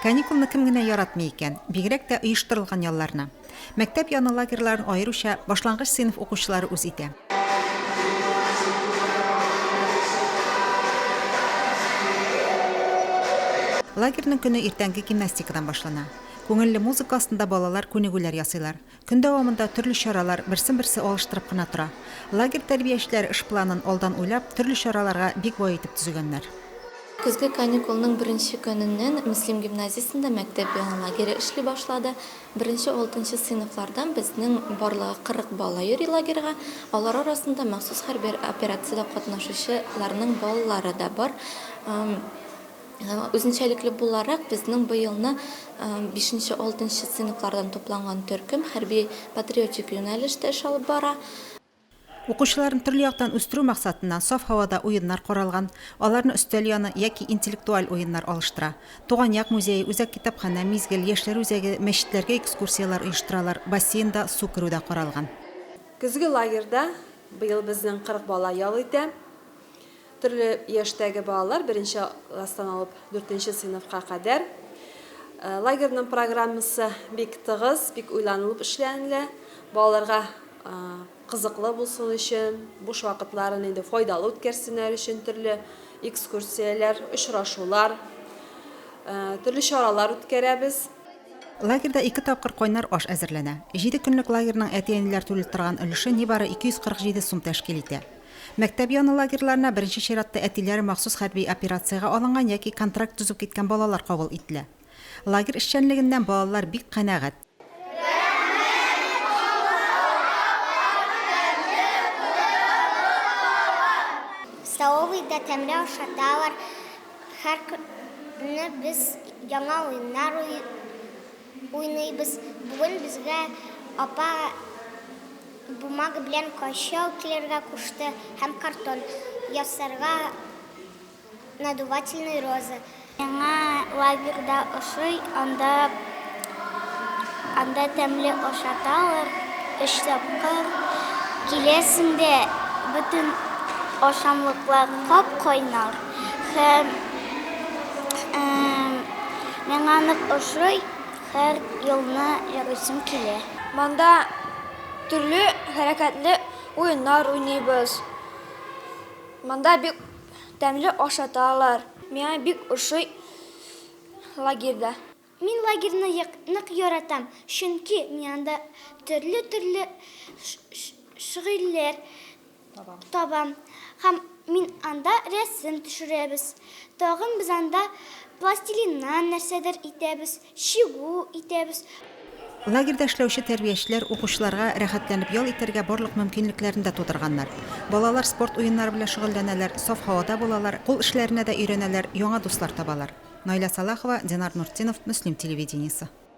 Каникулны кем генә яратмый икән, бигрәк тә оештырылган ялларны. Мәктәп яны лагерьларын аеруча башлангыч сыйныф укучылары үз итә. Лагерьның көне иртәнге гимнастикадан башлана. Күңелле музыка астында балалар күнегүләр ясыйлар. Көн дәвамында төрле чаралар берсен-берсе алыштырып кына тора. Лагерь тәрбиячеләре эш планын алдан уйлап, төрле чараларга бик бай итеп төзегәннәр. Көзге каникулның беренче көненнән Мөслим гимназиясендә мәктәп яңа лагере эшли башлады. Беренче алтынчы сыйныфлардан безнең барлыгы 40 бала йөри лагерьга. Алар арасында махсус хәрби операциядә катнашучы ларның балалары да бар. Үзенчәлекле буларак, безнең быелны бишенче, алтынчы сыйныфлардан тупланган төркем хәрби-патриотик юнәлештә эш алып бара. Укучыларны төрле яктан үстерү максатыннан саф һавада уеннар каралган, аларны өстәл яны яки интеллектуаль уеннар алыштыра. Туган як музее, Үзәк китапханә, Мизгел, Яшьләр үзәге, мәчетләргә экскурсияләр оештыралар, бассейнда су керү дә каралган. Көзге лагерьда быел безнең 40 бала ял итә. Төрле яшьтәге балалар беренче класстан алып дүртенче сыйныфка кадәр. Э, лагерьның программасы бик тыгыз, бик уйланылып эшләнелә. Балаларга э, кызыклы булсын өчен, буш вакытларын инде файдалы үткәрсеннәр өчен төрле экскурсияләр, очрашулар, э, төрле чаралар үткәрәбез. Лагерьда ике тапкыр кайнар аш әзерләнә. Җиде көнлек лагерьның әти-әниләр түлеп торган өлеше нибары 247 сум тәшкил итә. Мәктәп яны лагерьларына беренче чиратта әтиләре махсус хәрби операциягә алынган яки контракт төзеп киткән балалар кабул ителә. Лагерь эшчәнлегеннән балалар бик канәгать. Столовыйда тәмле ашаталар, һәркөнне без яңа уеннар уйныйбыз. Уйныйбыз. Бүген безгә апа бумага белән кайчау килергә кушты һәм картон ясарга надувательный роза. Миңа лагерь да ошый, анда анда тәмле ашаталар, өч тапкыр киләсең дә бөтен ашамлыклар кап-кайнар һәм Миңа нык ошый, һәр елны ярыйсым килә. Монда төрле хәрәкәтле уеннар уйныйбыз. Монда бик тәмле ашаталар. Миңа бик ошый лагерьда. Мин лагерьны нык яратам, чөнки мин анда төрле-төрле шгыльләр. Табам. Һәм мин анда рәсем төшерәбез. Тагын без анда пластилиннан нәрсәдер итәбез, чигү итәбез. Лагерьда эшләүче тәрбиячеләр укучыларга рәхәтләнеп ял итәргә барлык мөмкинлекләрне дә тудырганнар. Балалар спорт уеннары белән шөгыльләнәләр, саф һавада булалар, кул эшләренә дә өйрәнәләр, яңа дуслар табалар. Наилә Салахова, Динар Нуртдинов, Мөслим телевидениесе.